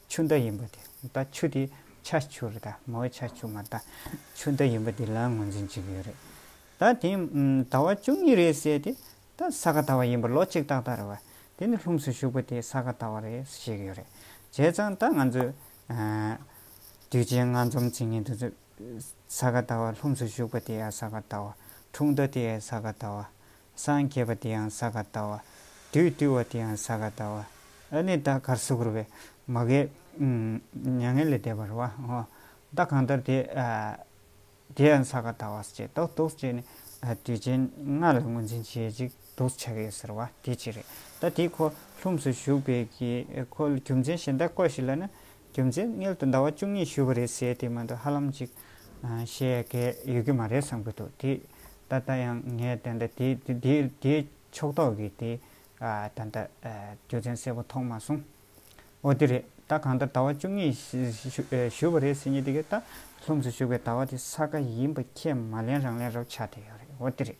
ཆུ་ཟླ་ཡིན་པ་དེ་ད་ཆུ་དེ་ཆ་ཆུ་རེད་ད་མ་འོས་ཆ་ཆུ་མ་ད་ཆུ་ཟླ་ཡིན་པ་དེ་ལའང་ངོས་འཛིན་བྱེད་ཀྱི་ཡོད་རེད་ད་དེ་ཟླ་བ་བཅུ་གཉིས་རེད་ཟེར་དེ་ད་ས་ག་ཟླ་བ་ཡིན་པ་ལོ་གཅིག་ཏག་ཏག་རེད་བ་དེ་ནི་ལྷུམས་སུ་ཞུགས་པ་དེ་ས་ག་ཟླ་བ་རེད་བཤད་ཀྱི་ཡོད་རེད་བྱས་ཙང་ད་ང་ཚོས་དུས་ཆེན་སྔ་འཛོམས་ཚིག་ངན་དུ་ཟ་ག་ཟླ་བ་ལྷུམས་སུ་ཞུགས་པ་དེ་ཡང་ས་ག་ཟླ་བ་འཁྲུངས་ཟླ་དེ་ཡང་ས་ག་ཟླ་བ་སངས་རྒྱས་པ་དེ་ཡང་ས་ག་ད་བ། དུས་བཏུལ་བ་དེ་ཡང་ས་ག་ད་བ། ཨ་ནི་ད་གར་སུ་གུར་བས། མ་གས། མྱ་ངན་ལས་འདས་པར་བ། ད་གང་ལྟར་དེ། དེ་ཡང་ས་ག་ད་བ་ཅེས་དོགས་དོགས་བྱས་ནས། དུས་ཆེན་ལྔ་ལ་ངོས་འཛིན་བྱེད་ཅིག་དོགས་བྱ་གས་ཟེར་བ་དེ་ཅི་རེད། ད་དེའི་ཁོ་ལྷུམས་སུ་ཞུགས་པའི་གི་ཁོ་རྒྱུ་མཚན་གཞན་དག་བཀོད་ཞིག་ལ་ན། རྒྱུ་མཚན་མངལ་དུ་ཟླ་བ་བཅུ་གཉིས་བཞུགས་པ་རེད་ཟེར་དེ་མ་འདུག་ཧ་ལམ་ཅིག་བཤད་མཁན་ཡོད་ཀྱི་མ་རེད་བསམ་གྱི་འདུག་དེ་ད་ལྟ་ཡང་ངས་དེ་འདྲ་དེའི་ཕྱོགས་གཏོགས་ཀྱི་དེ་ད་ལྟ་རྒྱུ་མཚན་གསལ་པོ་ཐོག་མ་སོང། འོ་དེ་རེད་ད་གང་ལྟར་ཟླ་བ་བཅུ་གཉིས་བཞུགས་པ་རེད་ཟེར་ཉིན་དེ་གའི་ད་ལྷུམས་སུ་བཞུགས་པའི་ཟླ་བ་དེ་ས་ག་ཡིན་པ་ཁྱེད་མ་ལེན་རང་ལེན་རོགས་ཆགས་དེ་ཡོད་རེད་འོ་དེ་རེད།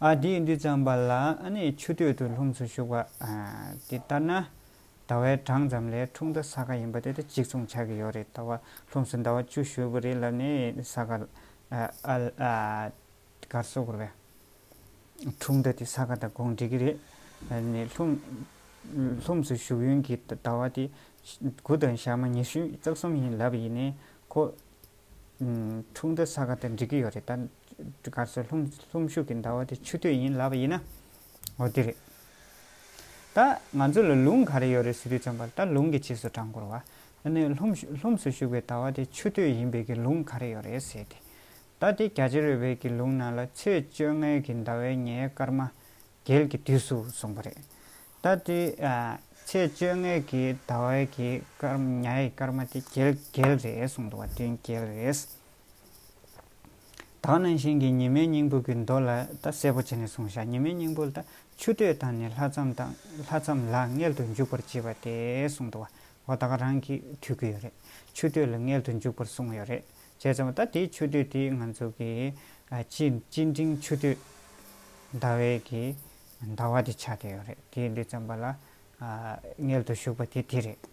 ཨ་དེས་འདི་བརྩམས་པ་ལ་ནི་ཆུ་སྟོད་དུ་ལྷུམས་སུ་ཞུགས་པ། དེ་ལྟར་ན། ཟླ་བའི་གྲངས་ཙམ་ལས་འཁྲུངས་ཟླ་ས་ག་ཡིན་པ་དེ་དང་གཅིག་མཚུངས་ཆགས་ཀྱི་ཡོད་རེད་ད་བ། ལྷུམས་སུ་ཟླ་བ་བཅུ་ཞུགས་པ་རེད་ལ་ནི་ས་ག། གར་སོ་གོར་བས། འཁྲུངས་ཟླ་དེ་ས་ག་དང་གོང་འགྲིག་གི་རེད། ནི་ལྷུམས་སུ་ཞུགས་ཡུན་གྱི་ཟླ་བ་དེ། དགུ་དང་ཞག་མ་ཉི་ཤུ་རྩ་གསུམ་ཡིན་ལབ་ཡིན་ནའི་ཁོ། འཁྲུངས་ཟླ་ས་ག་དང་འགྲིག་གི་ཡོད་རེད་ད། སྒར་སོ་ལྷུམ་ཤུགས་ཀྱི་ཟླ་བ་དེ་ཆུ་སྟོད་ཡིན་ལབ་པ་ཡིན་ན། འོ་དེ་རེད། ད་ང་ཚོ་ལ་ལུང་ག་རེ་ཡོད་རེད་ཟེར་དུས་བརྩམས་པར་ད་ལུང་གི་རྗེས་སུ་འབྲང་འགོར་བ། ད་ནི་ལྷུམ་ལྷུམ་སུ་ཤུགས་པའི་ཟླ་བ་དེ་ཆུ་སྟོད་ཡིན་བས་ཀྱི་ལུང་ག་རེ་ཡོད་རེད་ཟེར་ཏེ། ད་དེ་རྒྱ་ཆེར་ཡོད་བས་ཀྱི་ལུང་ནང་ལ་ཚེས་བཅོ་ལྔའི་གི་ཟླ་བའི་ཉའི་སྐར་མ་རྒྱལ་གྱི་དུས་སུ་སོང་བ་རེད། ད་དེ་ཚེས་བཅོ་ལྔའི་གི་ཟླ་བའི་གི་སྐར་ཉའི་སྐར་མ་དེ་རྒྱལ་རྒྱལ་རེད་གསུངས་འདུག་བ་དོན་རྒྱལ་རེད། དག་ནང་བཞིན་གྱི་ཉི་མའི་སྙིང་པོ་གྱི་མདོ་ལ་ད་གསལ་པོ་བྱས་ནས་གསུངས་བཞག་ཉི་མའི་སྙིང་པོ་ལྟ་ཆུ་སྟོད་དང་ནི་ལྷ་མཚམས་དང་ལྷ་མཚམས་ལ་མངལ་དུ་འཇུག་པར་བྱེད་པ་དེ་གསུངས་འདུག་བ་ད་ག་རང་གིས་ཐོས་ཀྱི་ཡོད་རེད་ཆུ་སྟོད་ལ་མངལ་དུ་འཇུག་པར་གསུངས་ཡོད་རེད་བྱས་ཙང་ད་དེའི་ཆུ་སྟོད་དེ་ང་ཚོ་གི་སྤྱི་སྤྱི་འབྲིང་ཆུ་སྟོད་ཟླ་བའི་གི་ཟླ་བ་དེ་ཆགས་ཀྱི་ཡོད་རེད་དེའི་འདི་མཚམས་པ་ལ་མངལ་དུ་ཞུགས་པ་དེ་དེ་རེད།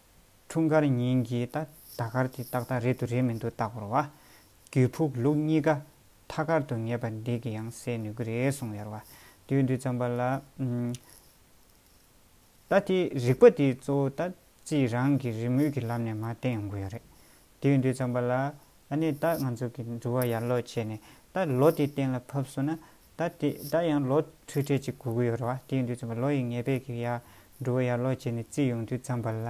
འཁྲུངས་སྐར་ཉིན་གྱི་ད་ལྟ་སྐར་དེ་ཏག་ཏག་རེད་འདུག་རེད་མི་འདུག་བརྟག་བར་བ། རྒྱུད་ཕུགས་ལུགས་གཉིས་ཀ་མཐའ་ཁར་དུ་ངེས་པ་འདི་གི་ཡང་སེལ་ནུས་ཀྱི་རེད་གསུངས་ཡར་བ། དུས་འདི་ཙམ་པ་ལ། ད་དེ་རིག་པ་དེ་གཙོ་བོ་ད་ཅི་རང་གི་རི་མོའི་གི་ལམ་ནས་མ་བསྟན་ཡོང་གི་ཡོད་རེད། དུས་འདི་ཙམ་པ་ལ། ཨ་ནི་ད་ང་ཚོ་གི་འགྲུལ་བ་ཡར་ལོག་བྱས་ནས་ད་ལོ་དེ་གཏན་ལ་ཕབས་སོ་ན། ད་དེ་ད་ཡང་ལོ་ཁྲི་ཁྲི་གཅིག་གོ་གི་ཡོད་རེད་བ་དེའི་དུས་ཚོད་ལོ་ཡི་ངེས་པས་ཀྱི་ཡར་འགྲོ་བ་ཡར་ལོ་བྱས་ནས་རྩིས་ཡོང་དུས་ཙམ་པ་ལ་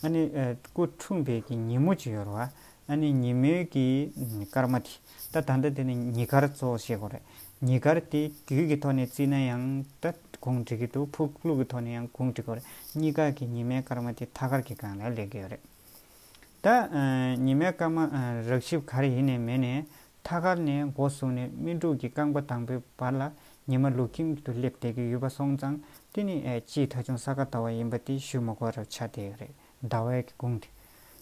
ཨ་ནི་སྐུ་འཁྲུངས་པའི་ཀྱི་ཉིན་མོ་གཅིག་ཡོད་རེད་བ་ཨ་ནི་ཉིན་མོའི་ཀྱི་སྐར་མ་དེ་ད་ད་ལྟ་དེ་ནི་ཉི་སྐར་གཙོ་བོ་བཤད་དགོས་རེད་ཉི་སྐར་དེ་དུས་ཀྱི་ཐོག་ནས་བརྩིས་ན་ཡང་ད་གུང་བསྒྲིགས་ཀྱི་འདུག་ཕུག་ལུགས་ཀྱི་ཐོག་ནས་ཡང་གུང་བསྒྲིགས་དགོས་རེད་གཉིས་ཀ་ཀྱི་ཉི་མའི་སྐར་མ་དེ་ཐ་སྐར་གྱི་སྒང་ལ་ལེགས་ཀྱི་ཡོད་རེད། ད་ཉི་མའི་སྐར་མ་རགས་ཞིབ་ག་རེ་ཡིན་ནས་མེད་ནས་ཐ་སྐར་ནས་འགོ་བཟུང་ནས་སྨིན་དྲུག་གི་རྐང་པ་དང་པོའི་བར་ལ་ཉི་མ་ལུག་ཁྱིམ་དུ་སླེབས་བསྡད་ཀྱི་ཡོད་པ་སོང་ཙང་དེ་ནི་སྤྱིའི་ཐ་ཆུང་ས་ག་ཟླ་བ་ཡིན་པ་དེ་ཞུ་མ་གོ་རབས་ཆ་དེ་རེད་ཟླ་བས་ཀྱི་དགུང་དེ།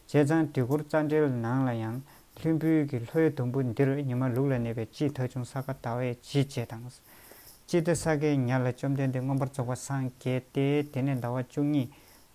བྱས་ཙང་དུས་འཁོར་རྩ་འགྲེལ་ནང་ལ་ཡང་ལྷུན་བུའི་གྱི་ལྷོའི་དུམ་བུ་འདིར་ཉི་མ་ལུག་ལ་གནས་པའི་སྤྱིའི་ཐ་ཆུང་ས་ག་ཟླ་བས་ཇི་བྱས་དང། ཅི་སྟེ་ས་གའི་ཉལ་ལ་བཅོམ་ལྡན་འདས་མངོན་པར་རྫོགས་པ་སངས་རྒྱས་ཏེ་དེ་ནས་ཟླ་བ་བཅུ་གཉིས།